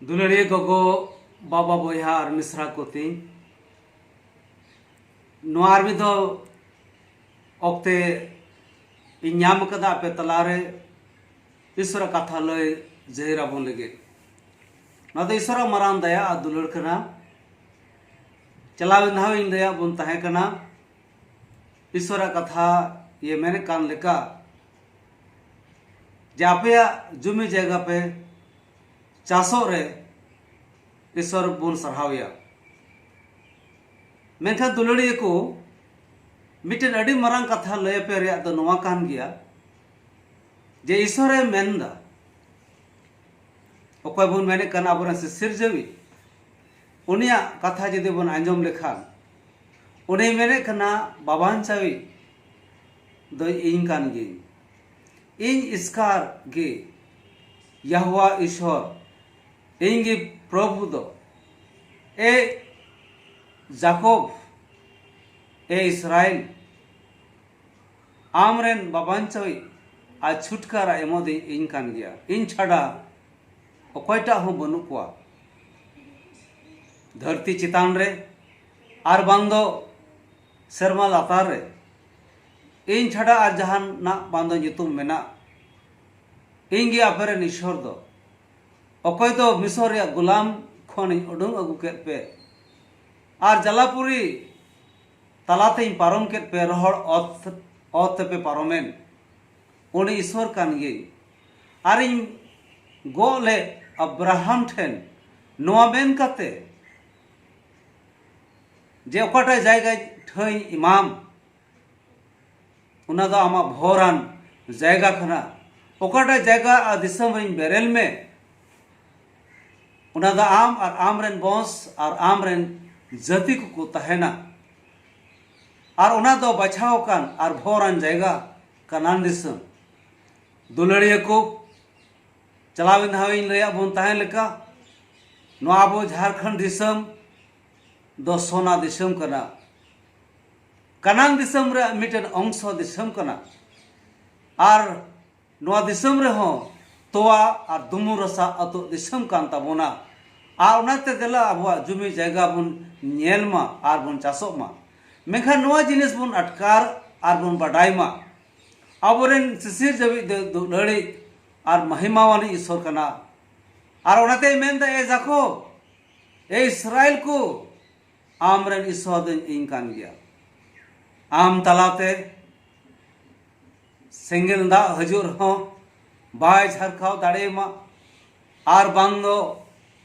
ᱫᱩᱞᱟᱹᱲᱤᱭᱟᱹ ᱜᱚᱜᱚ ᱵᱟᱵᱟ ᱵᱚᱭᱦᱟ ᱟᱨ ᱢᱤᱥᱨᱟ ᱠᱚ ᱛᱤᱧ ᱱᱚᱣᱟ ᱟᱨ ᱢᱤᱫ ᱫᱷᱟᱣ ᱚᱠᱛᱮ ᱤᱧ ᱧᱟᱢ ᱟᱠᱟᱫᱟ ᱟᱯᱮ ᱛᱟᱞᱟᱨᱮ ᱤᱥᱚᱨᱟᱜ ᱠᱟᱛᱷᱟ ᱞᱟᱹᱭ ᱡᱟᱹᱦᱤᱨ ᱟᱵᱚᱱ ᱞᱟᱹᱜᱤᱫ ᱱᱚᱣᱟ ᱫᱚ ᱤᱥᱚᱨᱟᱜ ᱢᱟᱨᱟᱝ ᱫᱟᱭᱟ ᱟᱨ ᱫᱩᱞᱟᱹᱲ ᱠᱟᱱᱟ ᱪᱟᱞᱟᱣᱮᱱ ᱫᱷᱟᱣ ᱤᱧ ᱞᱟᱹᱭᱟᱫ ᱵᱚᱱ ᱛᱟᱦᱮᱸ ᱠᱟᱱᱟ ᱤᱥᱚᱨᱟᱜ ᱠᱟᱛᱷᱟ ᱤᱭᱟᱹ ᱢᱮᱱᱮᱫ ᱠᱟᱱ ᱞᱮᱠᱟ ᱡᱮ ᱟᱯᱮᱭᱟᱜ ᱡᱩᱢᱤ ᱡᱟᱭᱜᱟ ᱯᱮ ᱪᱟᱥᱚᱜ ᱨᱮ ᱤᱥᱚᱨ ᱵᱚᱱ ᱥᱟᱨᱦᱟᱣᱮᱭᱟ ᱢᱮᱱᱠᱷᱟᱱ ᱫᱩᱞᱟᱹᱲᱤᱭᱟᱹ ᱠᱚ ᱢᱤᱫᱴᱮᱱ ᱟᱹᱰᱤ ᱢᱟᱨᱟᱝ ᱠᱟᱛᱷᱟ ᱞᱟᱹᱭ ᱟᱯᱮ ᱨᱮᱭᱟᱜ ᱫᱚ ᱱᱚᱣᱟ ᱠᱟᱱ ᱜᱮᱭᱟ ᱡᱮ ᱤᱥᱚᱨᱮ ᱢᱮᱱᱫᱟ ᱚᱠᱚᱭ ᱵᱚᱱ ᱢᱮᱱᱮᱫ ᱠᱟᱱᱟ ᱟᱵᱚᱨᱮᱱ ᱥᱤᱥᱤᱨᱡᱟᱹᱣᱤᱡ ᱩᱱᱤᱭᱟᱜ ᱠᱟᱛᱷᱟ ᱡᱩᱫᱤ ᱵᱚᱱ ᱟᱸᱡᱚᱢ ᱞᱮᱠᱷᱟᱱ ᱩᱱᱤ ᱢᱮᱱᱮᱫ ᱠᱟᱱᱟ ᱵᱟᱵᱟᱧᱪᱟᱣᱤᱡ ᱫᱚ ᱤᱧ ᱠᱟᱱ ᱜᱤᱭᱟᱹᱧ᱾ ᱤᱧ ᱤᱥᱠᱟᱨ ᱜᱮ ᱭᱟᱦᱳᱣᱟ ᱤᱥᱦᱚᱨ, ᱤᱧ ᱜᱮ ᱯᱨᱚᱵᱷᱩ ᱫᱚ᱾ ᱮ ᱡᱟᱠᱚᱵᱽ, ᱮ ᱤᱥᱨᱟᱭᱮᱞ, ᱟᱢ ᱨᱮᱱ ᱵᱟᱵᱟᱧᱪᱟᱣᱤᱡ ᱟᱨ ᱪᱷᱩᱴᱠᱟᱨᱟ ᱮᱢᱚᱫᱤᱡ ᱤᱧ ᱠᱟᱱ ᱜᱮᱭᱟ᱾ ᱤᱧ ᱪᱷᱟᱰᱟ ᱚᱠᱚᱭ ᱴᱟᱜ ᱦᱚᱸ ᱵᱟᱹᱱᱩᱜ ᱠᱚᱣᱟ ᱫᱷᱟᱹᱨᱛᱤ ᱪᱮᱛᱟᱱ ᱨᱮ ᱟᱨ ᱵᱟᱝ ᱫᱚ ᱥᱮᱨᱢᱟ ᱞᱟᱛᱟᱨ ᱨᱮ ᱤᱧ ᱪᱷᱟᱰᱟ ᱟᱨ ᱡᱟᱦᱟᱱᱟᱜ ᱵᱟᱝ ᱫᱚ ᱧᱩᱛᱩᱢ ᱢᱮᱱᱟᱜ ᱤᱧ ᱜᱮ ᱟᱯᱮ ᱨᱮᱱ ᱤᱥᱚᱨ ᱫᱚ ᱚᱠᱚᱭ ᱫᱚ ᱢᱤᱥᱚᱨ ᱨᱮᱭᱟᱜ ᱜᱩᱞᱟᱢ ᱠᱷᱚᱱ ᱤᱧ ᱩᱰᱩᱝ ᱟᱹᱜᱩ ᱠᱮᱫ ᱯᱮ ᱟᱨ ᱡᱟᱞᱟᱯᱩᱨᱤ ᱛᱟᱞᱟᱛᱮ ᱤᱧ ᱯᱟᱨᱚᱢ ᱠᱮᱫ ᱯᱮ ᱨᱚᱦᱚᱲ ᱚᱛ ᱚᱛ ᱛᱮᱯᱮ ᱯᱟᱨᱚᱢᱮᱱ ᱩᱱᱤ ᱤᱥᱚᱨ ᱠᱟᱱ ᱜᱮᱭ ᱟᱨ ᱤᱧ ᱜᱚᱜ ᱞᱮᱫ ᱟᱵᱨᱟᱦᱟᱢ ᱴᱷᱮᱱ ᱱᱚᱣᱟ ᱢᱮᱱ ᱠᱟᱛᱮ ᱡᱮ ᱚᱠᱟᱴᱟᱜ ᱡᱟᱭᱜᱟ ᱴᱷᱟᱹᱭ ᱮᱢᱟᱢ ᱚᱱᱟ ᱫᱚ ᱟᱢᱟᱜ ᱵᱷᱚᱨᱟᱱ ᱡᱟᱭᱜᱟ ᱠᱟᱱᱟ ᱚᱠᱟᱴᱟᱜ ᱡᱟᱭᱜᱟ ᱟᱨ ᱫᱤᱥᱚᱢ ᱨᱮᱧ ᱵᱮᱨᱮᱞ ᱢᱮ ᱚᱱᱟ ᱫᱚ ᱟᱢ ᱟᱨ ᱟᱢ ᱨᱮᱱ ᱵᱚᱸᱥ ᱟᱨ ᱟᱢ ᱨᱮᱱ ᱡᱟᱹᱛᱤ ᱠᱚᱠᱚ ᱛᱟᱦᱮᱱᱟ ᱟᱨ ᱚᱱᱟ ᱫᱚ ᱵᱟᱪᱷᱟᱣ ᱟᱠᱟᱱ ᱟᱨ ᱵᱷᱚᱨᱟᱱ ᱡᱟᱭᱜᱟ ᱠᱟᱱᱟᱱ ᱫᱤᱥᱚᱢ ᱫᱩᱞᱟᱹᱲᱤᱭᱟᱹ ᱠᱚ ᱪᱟᱞᱟᱣᱮᱱ ᱫᱷᱟᱣ ᱤᱧ ᱞᱟᱹᱭᱟᱫ ᱵᱚᱱ ᱛᱟᱦᱮᱸ ᱞᱮᱠᱟ ᱱᱚᱣᱟ ᱟᱵᱚ ᱡᱷᱟᱨᱠᱷᱚᱸᱰ ᱫᱤᱥᱚᱢ ᱫᱚ ᱥᱚᱱᱟ ᱫᱤᱥᱚᱢ ᱠᱟᱱᱟ ᱠᱟᱱᱟᱝ ᱫᱤᱥᱚᱢ ᱨᱮ ᱢᱤᱫᱴᱮᱱ ᱚᱝᱥᱚ ᱫᱤᱥᱚᱢ ᱠᱟᱱᱟ ᱟᱨ ᱱᱚᱣᱟ ᱫᱤᱥᱚᱢ ᱨᱮᱦᱚᱸ ᱛᱚᱣᱟ ᱟᱨ ᱫᱩᱢᱩ ᱨᱟᱥᱟ ᱟᱛᱳ ᱫᱤᱥᱚᱢ ᱠᱟᱱ ᱛᱟᱵᱚᱱᱟ ᱟᱨ ᱚᱱᱟᱛᱮ ᱫᱮᱞᱟ ᱟᱵᱚᱣᱟᱜ ᱡᱩᱢᱤ ᱡᱟᱭᱜᱟ ᱵᱚᱱ ᱧᱮᱞ ᱢᱟ ᱟᱨ ᱵᱚᱱ ᱪᱟᱥᱚᱜ ᱢᱟ ᱢᱮᱱᱠᱷᱟᱱ ᱱᱚᱣᱟ ᱡᱤᱱᱤᱥ ᱵᱚᱱ ᱟᱴᱠᱟᱨ ᱟᱨ ᱵᱚᱱ ᱵᱟᱰᱟᱭ ᱢᱟ ᱟᱵᱚᱨᱮᱱ ᱥᱤᱥᱤᱨ ᱡᱟᱹᱣᱤᱡ ᱫᱚ ᱞᱟᱹᱲᱤᱡ ᱟᱨ ᱢᱟᱦᱤᱢᱟᱣᱟᱱᱤᱡ ᱤᱥᱚᱨ ᱠᱟᱱᱟ ᱟᱨ ᱚᱱᱟᱛᱮᱭ ᱢᱮᱱᱫᱟ ᱮ ᱡᱟᱠᱚ ᱮ ᱤᱥᱨᱟᱭᱮᱞ ᱠᱚ ᱟᱢ ᱨᱮᱱ ᱤᱥᱚᱨ ᱫᱚ ᱤᱧ ᱠᱟᱱ ᱜᱮᱭᱟ ᱟᱢ ᱛᱟᱞᱟᱛᱮ ᱥᱮᱸᱜᱮᱞ ᱫᱟᱜ ᱦᱤᱡᱩᱜ ᱨᱮᱦᱚᱸ ᱵᱟᱭ ᱡᱷᱟᱨᱠᱟᱣ ᱫᱟᱲᱮᱭᱟᱢᱟ ᱟᱨ ᱵᱟᱝ ᱫᱚ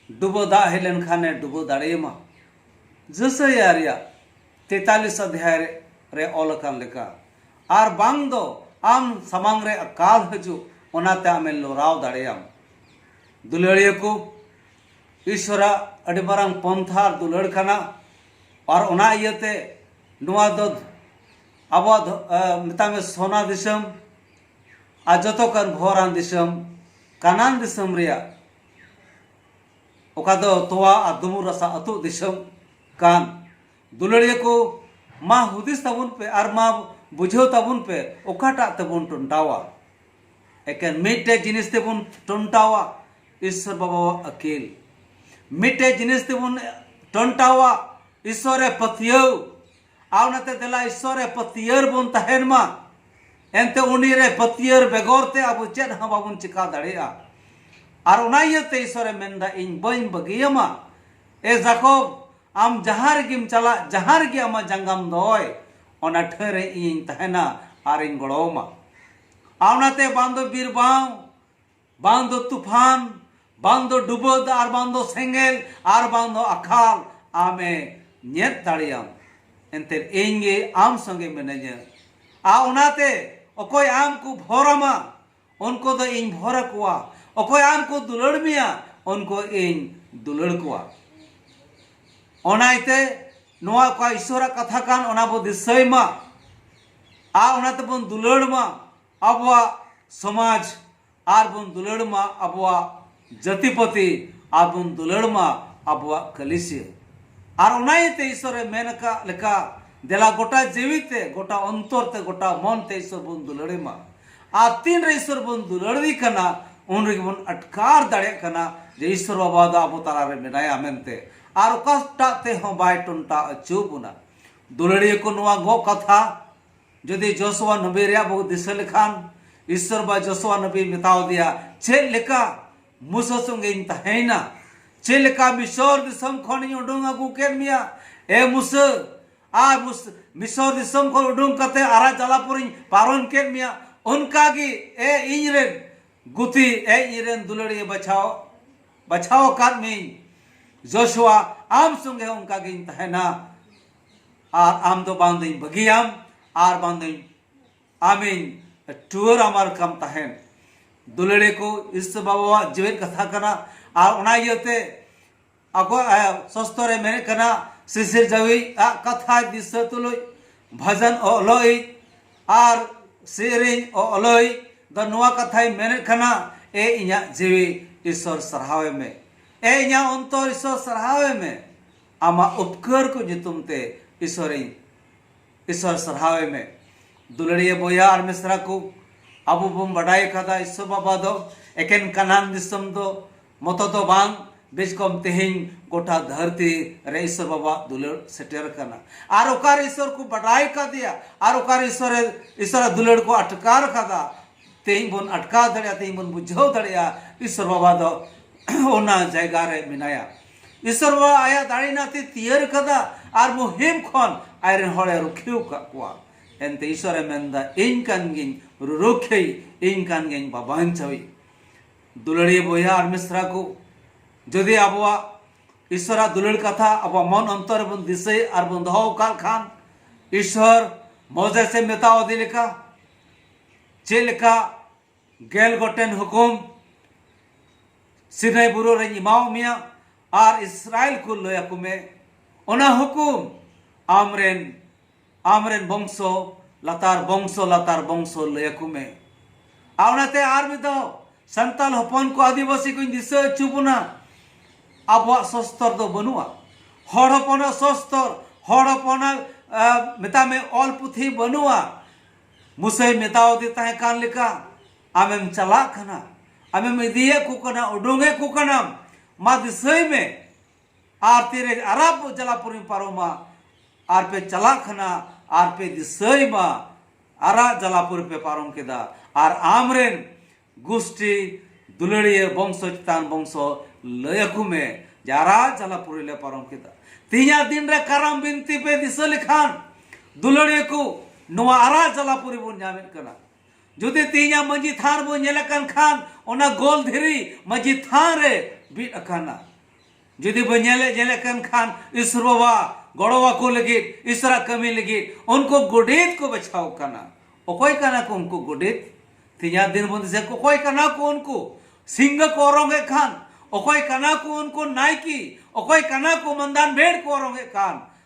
ᱰᱩᱵᱟᱹ ᱫᱟᱜ ᱦᱮᱡ ᱞᱮᱱᱠᱷᱟᱱᱮ ᱰᱩᱵᱟᱹ ᱫᱟᱲᱮᱭᱟᱢᱟ ᱡᱮᱥᱟᱭᱟ ᱨᱮᱭᱟᱜ ᱛᱮᱛᱟᱞᱤᱥ ᱚᱫᱷᱭᱟᱭ ᱨᱮ ᱚᱞ ᱟᱠᱟᱱ ᱞᱮᱠᱟ ᱟᱨ ᱵᱟᱝ ᱫᱚ ᱟᱢ ᱥᱟᱢᱟᱝ ᱨᱮ ᱟᱠᱟᱞ ᱦᱤᱡᱩᱜ ᱚᱱᱟᱛᱮ ᱟᱢᱮ ᱞᱚᱨᱟᱣ ᱫᱟᱲᱮᱭᱟᱢ᱾ ᱫᱩᱞᱟᱹᱲᱤᱭᱟᱹ ᱠᱚ, ᱤᱥᱣᱚᱨᱟᱜ ᱟᱹᱰᱤ ᱢᱟᱨᱟᱝ ᱯᱚᱱᱛᱷᱟ ᱟᱨ ᱫᱩᱞᱟᱹᱲ ᱠᱟᱱᱟ ᱟᱨ ᱚᱱᱟ ᱤᱭᱟᱹᱛᱮ ᱱᱚᱣᱟ ᱫᱚ ᱟᱵᱚᱣᱟᱜ ᱢᱮᱛᱟᱜ ᱢᱮ ᱥᱚᱱᱟ ᱫᱤᱥᱚᱢ ᱟᱨ ᱡᱚᱛᱚ ᱠᱷᱚᱱ ᱵᱷᱚᱨᱟᱱ ᱫᱤᱥᱚᱢ ᱠᱟᱱᱟᱱ ᱫᱤᱥᱚᱢ ᱨᱮᱭᱟᱜ ᱚᱠᱟ ᱫᱚ ᱛᱚᱣᱟ ᱟᱨ ᱫᱩᱢᱩᱨ ᱨᱟᱥᱟ ᱟᱹᱛᱩᱜ ᱫᱤᱥᱚᱢ ᱠᱟᱱ᱾ ᱫᱩᱞᱟᱹᱲᱤᱭᱟᱹ ᱠᱚ ᱢᱟ ᱦᱩᱫᱤᱥ ᱛᱟᱵᱚᱱ ᱯᱮ ᱟᱨ ᱢᱟ ᱵᱩᱡᱷᱟᱹᱣ ᱛᱟᱵᱚᱱ ᱯᱮ ᱚᱠᱟᱴᱟᱜ ᱛᱮᱵᱚᱱ ᱴᱚᱱᱴᱟᱣᱟ ᱮᱠᱮᱱ ᱢᱤᱫᱴᱮᱡ ᱡᱤᱱᱤᱥ ᱛᱮᱵᱚᱱ ᱴᱚᱱᱴᱟᱣᱟ ᱤᱥᱥᱚᱨ ᱵᱟᱵᱟᱣᱟᱜ ᱟᱹᱠᱤᱞ ᱢᱤᱫᱴᱮᱡ ᱡᱤᱱᱤᱥ ᱛᱮᱵᱚᱱ ᱴᱚᱱᱴᱟᱣᱟ ᱤᱥᱥᱚᱨᱮ ᱯᱟᱹᱛᱭᱟᱹᱣ ᱟᱨ ᱚᱱᱟᱛᱮ ᱫᱮᱞᱟ ᱤᱥᱥᱚᱨᱮ ᱯᱟᱹᱛᱭᱟᱹᱣ ᱵᱚᱱ ᱛᱟᱦᱮᱱ ᱢᱟ ᱮᱱᱛᱮ ᱩᱱᱤᱨᱮ ᱯᱟᱹᱛᱭᱟᱹᱣ ᱵᱮᱜᱚᱨ ᱛᱮ ᱟᱵᱚ ᱪᱮᱫ ᱦᱚᱸ ᱵᱟᱵᱚᱱ ᱪᱤᱠᱟ ᱫᱟᱲᱮᱭᱟᱜᱼᱟ ᱟᱨ ᱚᱱᱟ ᱤᱭᱟᱹᱛᱮ ᱤᱥᱥᱚᱨᱮ ᱢᱮᱱᱫᱟ ᱤᱧ ᱵᱟᱹᱧ ᱵᱟᱹᱜᱤᱭᱟᱢᱟ ᱮ ᱡᱟᱠᱚᱵ ᱟᱢ ᱡᱟᱦᱟᱸ ᱨᱮᱜᱮᱢ ᱪᱟᱞᱟᱜ ᱡᱟᱦᱟᱸ ᱨᱮᱜᱮ ᱟᱢᱟᱜ ᱡᱟᱸᱜᱟᱢ ᱫᱚᱦᱚᱭ ᱚᱱᱟ ᱴᱷᱟᱹ ᱨᱮ ᱤᱧᱤᱧ ᱛᱟᱦᱮᱱᱟ ᱟᱨᱤᱧ ᱜᱚᱲᱚ ᱟᱢᱟ ᱟᱨ ᱚᱱᱟᱛᱮ ᱵᱟᱝ ᱫᱚ ᱵᱤᱨ ᱵᱟᱝ ᱵᱟᱝ ᱫᱚ ᱛᱩᱯᱷᱟᱱ ᱵᱟᱝ ᱫᱚ ᱰᱩᱵᱟᱹ ᱫᱟᱜ ᱟᱨ ᱵᱟᱝ ᱫᱚ ᱥᱮᱸᱜᱮᱞ ᱟᱨ ᱵᱟᱝ ᱫᱚ ᱟᱠᱟᱞ ᱟᱢᱮ ᱧᱮᱫ ᱫᱟᱲᱮᱭᱟᱢ ᱮᱱᱛᱮ ᱤᱧ ᱜᱮ ᱟᱢ ᱥᱚᱸᱜᱮ ᱢᱤᱱᱟᱹᱧᱟ ᱟᱨ ᱚᱱᱟᱛᱮ ᱚᱠᱚᱭ ᱟᱢ ᱠᱚ ᱵᱷᱚᱨ ᱟᱢᱟ ᱩᱱᱠᱩ ᱫᱚ ᱤᱧ ᱵᱷᱚᱨ ᱟᱠᱚᱣᱟ ᱚᱠᱚᱭ ᱟᱢ ᱠᱚ ᱫᱩᱞᱟᱹᱲ ᱢᱮᱭᱟ ᱩᱱᱠᱩ ᱤᱧ ᱫᱩᱞᱟᱹᱲ ᱠᱚᱣᱟ ᱚᱱᱟ ᱤᱛᱮ ᱱᱚᱣᱟ ᱚᱠᱟ ᱤᱥᱚᱨᱟᱜ ᱠᱟᱛᱷᱟ ᱠᱟᱱ ᱚᱱᱟ ᱵᱚ ᱫᱤᱥᱟᱹᱭ ᱢᱟ ᱟᱨ ᱚᱱᱟ ᱛᱮᱵᱚᱱ ᱫᱩᱞᱟᱹᱲ ᱢᱟ ᱟᱵᱚᱣᱟᱜ ᱥᱚᱢᱟᱡᱽ ᱟᱨ ᱵᱚᱱ ᱫᱩᱞᱟᱹᱲ ᱢᱟ ᱟᱵᱚᱣᱟᱜ ᱡᱟᱹᱛᱤᱯᱟᱹᱛᱤ ᱟᱨ ᱵᱚᱱ ᱫᱩᱞᱟᱹᱲ ᱢᱟ ᱟᱵᱚᱣᱟᱜ ᱠᱟᱹᱞᱤᱥᱤᱭᱟᱹ᱾ ᱟᱨ ᱚᱱᱟ ᱤᱭᱟᱹᱛᱮ ᱤᱥᱚᱨ ᱮ ᱢᱮᱱ ᱟᱠᱟᱫ ᱞᱮᱠᱟ ᱫᱮᱞᱟ ᱜᱚᱴᱟ ᱡᱤᱣᱤ ᱛᱮ, ᱜᱚᱴᱟ ᱚᱱᱛᱚᱨ ᱛᱮ, ᱜᱚᱴᱟ ᱢᱚᱱ ᱛᱮ ᱤᱥᱚᱨ ᱵᱚᱱ ᱫᱩᱞᱟᱹᱲ ᱮ ᱢᱟ᱾ ᱟᱨ ᱛᱤᱱ ᱨᱮ ᱤᱥᱚᱨ ᱵᱚᱱ ᱫᱩᱞᱟᱹᱲ ᱮ ᱠᱟᱱᱟ ᱩᱱ ᱨᱮᱜᱮ ᱵᱚᱱ ᱟᱴᱠᱟᱨ ᱫᱟᱲᱮᱭᱟᱜ ᱠᱟᱱᱟ ᱡᱮ ᱤᱥᱚᱨ ᱵᱟᱵᱟ ᱫᱚ ᱟᱵᱚ ᱛᱟᱞᱟ ᱨᱮ ᱢᱮᱱᱟᱭᱟ ᱢᱮᱱᱛᱮ ᱟᱨ ᱚᱠᱟᱴᱟᱜ ᱛᱮ ᱦᱚᱸ ᱵᱟᱭ ᱴᱚᱱᱴᱟᱣ ᱟᱹᱪᱩ ᱵᱚᱱᱟ᱾ ᱫᱩᱞᱟᱹᱲᱤᱭᱟᱹ ᱠᱚ ᱱᱚᱣᱟ ᱜᱚᱜ ᱠᱟᱛᱷᱟ᱾ ᱡᱩᱫᱤ ᱡᱚᱥᱩᱣᱟ ᱱᱚᱵᱤ ᱨᱮᱭᱟᱜ ᱵᱚ ᱫᱤᱥᱟᱹ ᱞᱮᱠᱷᱟᱱ ᱤᱥᱚᱨ ᱵᱟ ᱡᱚᱥᱩᱣᱟ ᱱᱚᱵᱤ ᱢᱮᱛᱟᱣ ᱫᱮᱭᱟ ᱪᱮᱫ ᱞᱮᱠᱟ ᱢᱩᱥᱟ ᱥᱚᱸᱜᱮᱧ ᱛᱟᱦᱮᱸᱭᱮᱱᱟ ᱪᱮᱫ ᱞᱮᱠᱟ ᱢᱤᱥᱚᱨ ᱫᱤᱥᱚᱢ ᱠᱷᱚᱱᱤᱧ ᱩᱰᱩᱝ ᱟᱹᱜᱩ ᱠᱮᱫ ᱢᱮᱭᱟ ᱮ ᱢᱩᱥᱟ ᱟᱨ ᱢᱤᱥᱚᱨ ᱫᱤᱥᱚᱢ ᱠᱷᱚᱱ ᱩᱰᱩᱝ ᱠᱟᱛᱮ ᱟᱨᱟ ᱡᱟᱞᱟ ᱯᱚᱨᱤᱧ ᱯᱟᱨᱚᱢ ᱠᱮᱫ ᱢᱮᱭᱟ ᱚᱱᱠᱟ ᱜᱮ ᱮ ᱤᱧ ᱨᱮᱱ ᱜᱩᱛᱤ ᱮ ᱤᱧ ᱨᱮᱱ ᱫᱩᱞᱟᱹᱲᱤᱭᱟᱹ ᱵᱟᱪᱷᱟᱣ ᱵᱟᱪᱷᱟᱣ ᱟᱠᱟᱫ ᱢᱤᱭᱟᱹᱧ ᱡᱚᱥᱩᱣᱟ ᱟᱢ ᱥᱚᱸᱜᱮ ᱚᱱᱠᱟ ᱜᱤᱧ ᱛᱟᱦᱮᱱᱟ ᱟᱨ ᱟᱢ ᱫᱚ ᱵᱟᱝ ᱫᱚᱧ ᱵᱟᱹᱜᱤᱭᱟᱢ ᱟᱨ ᱵᱟᱝ ᱫᱚᱧ ᱟᱢᱤᱧ ᱴᱩᱣᱟᱹᱨ ᱟᱢᱟᱨ ᱠᱟᱢ ᱛᱟᱦᱮᱱ ᱫᱩᱞᱟᱹᱲᱤ ᱠᱚ ᱤᱥᱛᱚ ᱵᱟᱵᱟᱣᱟᱜ ᱡᱮᱣᱮᱫ ᱠᱟᱛᱷᱟ ᱠᱟᱱᱟ ᱟᱨ ᱚᱱᱟ ᱤᱭᱟᱹᱛᱮ ᱟᱠᱚᱣᱟᱜ ᱥᱚᱥᱛᱚ ᱨᱮ ᱢᱮᱱᱮᱫ ᱠᱟᱱᱟ ᱥᱤᱥᱤᱨ ᱡᱟᱹᱣᱤ ᱟᱜ ᱠᱟᱛᱷᱟ ᱫᱤᱥᱟᱹ ᱛᱩᱞᱩᱡ ᱵᱷᱟᱡᱟᱱ ᱚᱞᱚᱭ ᱟᱨ ᱥᱮᱨᱮᱧ ᱚᱞᱚᱭ ᱫᱚ ᱱᱚᱣᱟ ᱠᱟᱛᱷᱟᱭ ᱢᱮᱱᱮᱫ ᱠᱟᱱᱟ ᱮ ᱤᱧᱟᱹᱜ ᱡᱤᱣᱤ ᱤᱥᱚᱨ ᱥᱟᱨᱦᱟᱣᱮ ᱢᱮ ᱮ ᱤᱧᱟᱹᱜ ᱚᱱᱛᱚᱨ ᱤᱥᱚᱨ ᱥᱟᱨᱦᱟᱣᱮ ᱢᱮ ᱟᱢᱟᱜ ᱩᱯᱠᱟᱹᱨ ᱠᱚ ᱧᱩᱛᱩᱢ ᱛᱮ ᱤᱥᱚᱨ ᱤᱧ ᱤᱥᱚᱨ ᱥᱟᱨᱦᱟᱣ ᱮᱢᱮ ᱫᱩᱞᱟᱹᱲᱤᱭᱟᱹ ᱵᱚᱭᱦᱟ ᱟᱨ ᱢᱤᱥᱨᱟ ᱠᱚ ᱟᱵᱚ ᱵᱚᱱ ᱵᱟᱰᱟᱭ ᱟᱠᱟᱫᱟ ᱤᱥᱚ ᱵᱟᱵᱟ ᱫᱚ ᱮᱠᱮᱱ ᱠᱟᱱᱟᱱ ᱫᱤᱥᱚᱢ ᱫᱚ ᱢᱚᱛᱚ ᱫᱚ ᱵᱟᱝ ᱵᱮᱥ ᱠᱚᱢ ᱛᱮᱦᱮᱧ ᱜᱚᱴᱟ ᱫᱷᱟᱹᱨᱛᱤ ᱨᱮ ᱤᱥᱚᱨ ᱵᱟᱵᱟ ᱫᱩᱞᱟᱹᱲ ᱥᱮᱴᱮᱨ ᱟᱠᱟᱱᱟ ᱟᱨ ᱚᱠᱟᱨ ᱤᱥᱚᱨ ᱠᱚ ᱵᱟᱰᱟᱭ ᱠᱟᱫᱮᱭᱟ ᱟᱨ ᱚᱠᱟᱨ ᱤᱥᱚᱨ ᱤᱥᱚᱨ ᱫᱩᱞᱟᱹᱲ ᱠᱚ ᱟᱴᱠᱟᱨ ᱠᱟᱫᱟ ᱛᱮᱦᱮᱧ ᱵᱚᱱ ᱟᱴᱠᱟᱨ ᱫᱟᱲᱮᱭᱟᱜᱼᱟ ᱛᱮᱦᱮᱧ ᱵᱚᱱ ᱵᱩᱡᱷᱟᱹᱣ ᱫᱟᱲᱮᱭᱟᱜᱼᱟ ᱤᱥᱚᱨ ᱵᱟᱵᱟ ᱫᱚ ᱚᱱᱟ ᱡᱟᱭᱜᱟ ᱨᱮ ᱢᱮᱱᱟᱭᱟ ᱤᱥᱚᱨ ᱵᱟᱵᱟ ᱟᱭᱟᱜ ᱫᱟᱲᱮ ᱱᱟᱛᱮ ᱛᱤᱭᱟᱹᱨ ᱟᱠᱟᱫᱟ ᱟᱨ ᱢᱩᱦᱤᱢ ᱠᱷᱚᱱ ᱟᱡ ᱨᱮᱱ ᱦᱚᱲ ᱮ ᱨᱩᱠᱷᱤᱭᱟᱹ ᱟᱠᱟᱫ ᱠᱚᱣᱟ᱾ ᱮᱱᱛᱮ ᱤᱥᱚᱨ ᱮ ᱢᱮᱱ ᱮᱫᱟ ᱤᱧ ᱠᱟᱱ ᱜᱤᱧ ᱨᱩᱨᱩᱠᱷᱤᱭᱟᱹᱭᱤᱡ, ᱤᱧ ᱠᱟᱱ ᱜᱤᱧ ᱵᱟᱵᱟᱧᱪᱟᱣᱤᱡ᱾ ᱫᱩᱞᱟᱹᱲᱤᱭᱟᱹ ᱵᱚᱭᱦᱟ ᱟᱨ ᱢᱤᱥᱨᱟ ᱠᱚ, ᱡᱩᱫᱤ ᱟᱵᱚᱣᱟᱜ ᱤᱥᱚᱨ ᱟᱜ ᱫᱩᱞᱟᱹᱲ ᱠᱟᱛᱷᱟ ᱟᱵᱚᱣᱟᱜ ᱢᱚᱱ ᱚᱱᱛᱚᱨ ᱨᱮ ᱵᱚᱱ ᱫᱤᱥᱟᱹᱭ ᱟᱨ ᱵᱚᱱ ᱫᱚᱦᱚ ᱟᱠᱟᱫ ᱠᱷᱟᱱ, ᱤᱥᱚᱨ ᱢᱚᱡᱮᱥ ᱮ ᱢᱮᱛᱟᱣᱟᱫᱮ ᱞᱮᱠᱟ ᱪᱮᱫ ᱞᱮᱠᱟ ᱜᱮᱞ ᱜᱚᱴᱮᱱ ᱦᱩᱠᱩᱢ ᱥᱤᱱᱟᱭ ᱵᱩᱨᱩ ᱨᱮᱧ ᱮᱢᱟᱣ ᱢᱮᱭᱟ ᱟᱨ ᱤᱥᱨᱟᱭᱮᱞ ᱠᱚ ᱞᱟᱹᱭ ᱟᱠᱚ ᱢᱮ ᱚᱱᱟ ᱦᱩᱠᱩᱢ ᱟᱢᱨᱮᱱ ᱟᱢᱨᱮᱱ ᱵᱚᱝᱥᱚ ᱞᱟᱛᱟᱨ ᱵᱚᱝᱥᱚ ᱞᱟᱛᱟᱨ ᱵᱚᱝᱥᱚ ᱞᱟᱹᱭ ᱟᱠᱚ ᱢᱮ ᱟᱨ ᱚᱱᱟᱛᱮ ᱟᱨ ᱢᱤᱫ ᱫᱷᱟᱣ ᱥᱟᱱᱛᱟᱞ ᱦᱚᱯᱚᱱ ᱠᱚ ᱟᱹᱫᱤᱵᱟᱹᱥᱤ ᱠᱚᱧ ᱫᱤᱥᱟᱹ ᱦᱚᱪᱚ ᱵᱚᱱᱟ ᱟᱵᱚᱣᱟᱜ ᱥᱚᱥᱛᱚᱨ ᱫᱚ ᱵᱟᱹᱱᱩᱜᱼᱟ ᱦᱚᱲ ᱦᱚᱯᱚᱱᱟᱜ ᱥᱚᱥᱛᱚᱨ ᱦᱚᱲ ᱦᱚᱯᱚᱱᱟᱜ ᱢᱮᱛᱟᱜ ᱢᱮ ᱚᱞ ᱯᱩᱛᱷᱤ ᱵᱟᱹᱱᱩᱜᱼᱟ ᱢᱩᱥᱟᱹᱭ ᱢᱮᱛᱟᱣᱟᱫᱮ ᱛᱟᱦᱮᱸ ᱠᱟᱱ ᱞᱮᱠᱟ ᱟᱢᱮᱢ ᱪᱟᱞᱟᱜ ᱠᱟᱱᱟ ᱟᱢᱮᱢ ᱤᱫᱤᱭᱮᱫ ᱠᱚ ᱠᱟᱱᱟ ᱩᱰᱩᱝᱮᱫ ᱠᱚ ᱠᱟᱱᱟᱢ ᱢᱟ ᱫᱤᱥᱟᱹᱭ ᱢᱮ ᱟᱨ ᱛᱤᱨᱮ ᱟᱨᱟᱵ ᱡᱟᱞᱟᱯᱩᱨᱤᱢ ᱯᱟᱨᱚᱢᱟ ᱟᱨ ᱯᱮ ᱪᱟᱞᱟᱜ ᱠᱟᱱᱟ ᱟᱨ ᱯᱮ ᱫᱤᱥᱟᱹᱭ ᱢᱟ ᱟᱨᱟᱜ ᱡᱟᱞᱟᱯᱩᱨᱤ ᱯᱮ ᱯᱟᱨᱚᱢ ᱠᱮᱫᱟ ᱟᱨ ᱟᱢᱨᱮᱱ ᱜᱩᱥᱴᱤ ᱫᱩᱞᱟᱹᱲᱤᱭᱟᱹ ᱵᱚᱝᱥᱚ ᱪᱮᱛᱟᱱ ᱵᱚᱝᱥᱚ ᱞᱟᱹᱭ ᱟᱠᱚ ᱢᱮ ᱡᱟᱨᱟ ᱡᱟᱞᱟ ᱯᱩᱨᱤ ᱞᱮ ᱯᱟᱨᱚᱢ ᱠᱮᱫᱟ ᱛᱤᱦᱤᱧᱟᱜ ᱫᱤᱱ ᱨᱮ ᱠᱟᱨᱟᱢ ᱵᱤᱱᱛᱤ ᱯᱮ ᱫᱤᱥᱟᱹ ᱞᱮᱠᱷᱟᱱ ᱫᱩᱞᱟᱹᱲᱤᱭᱟᱹ ᱠᱚ ᱱᱚᱣᱟ ᱟᱨᱟ ᱡᱟᱞᱟ ᱯᱩᱨᱤ ᱵᱚᱱ ᱧᱟᱢᱮᱫ ᱠᱟᱱᱟ ᱡᱩᱫᱤ ᱛᱤᱦᱤᱧᱟᱜ ᱢᱟᱹᱡᱷᱤ ᱛᱷᱟᱱ ᱵᱚᱱ ᱧᱮᱞᱮᱫ ᱠᱟᱱ ᱠᱷᱟᱱ ᱚᱱᱟ ᱜᱳᱞ ᱫᱷᱤᱨᱤ ᱢᱟᱹᱡᱷᱤ ᱛᱷᱟᱱ ᱨᱮ ᱵᱤᱫ ᱟᱠᱟᱱᱟ ᱡᱩᱫᱤ ᱵᱚ ᱧᱮᱞᱮ ᱧᱮᱞᱮ ᱠᱟᱱ ᱠᱷᱟᱱ ᱤᱥᱚᱨ ᱵᱟᱵᱟ ᱜᱚᱲᱚ ᱟᱠᱚ ᱞᱟᱹᱜᱤᱫ ᱤᱥᱚᱨᱟ ᱠᱟᱹᱢᱤ ᱞᱟᱹᱜᱤᱫ ᱩᱱᱠᱩ ᱜᱚᱰᱮᱛ ᱠᱚ ᱵᱟᱪᱷᱟᱣ ᱠᱟᱱᱟ ᱚᱠᱚᱭ ᱠᱟᱱᱟ ᱠᱚ ᱩᱱᱠᱩ ᱜᱚᱰᱮᱛ ᱛᱮᱦᱮᱧᱟᱜ ᱫᱤᱱ ᱵᱚᱱ ᱫᱤᱥᱟᱹ ᱚᱠᱚᱭ ᱠᱟᱱᱟ ᱠᱚ ᱩᱱᱠᱩ ᱥᱤᱝᱜᱟ ᱠᱚ ᱚᱨᱚᱝ ᱮᱫ ᱠᱷᱟᱱ ᱚᱠᱚᱭ ᱠᱟᱱᱟ ᱠᱚ ᱩᱱᱠᱩ ᱱᱟᱭᱠᱤ ᱚᱠᱚᱭ ᱠᱟᱱᱟ ᱠᱚ ᱢᱟᱱᱫᱟᱱ ᱵᱷᱮᱲ ᱠᱚ ᱚᱨᱚᱝ ᱮᱫ ᱠᱟᱱ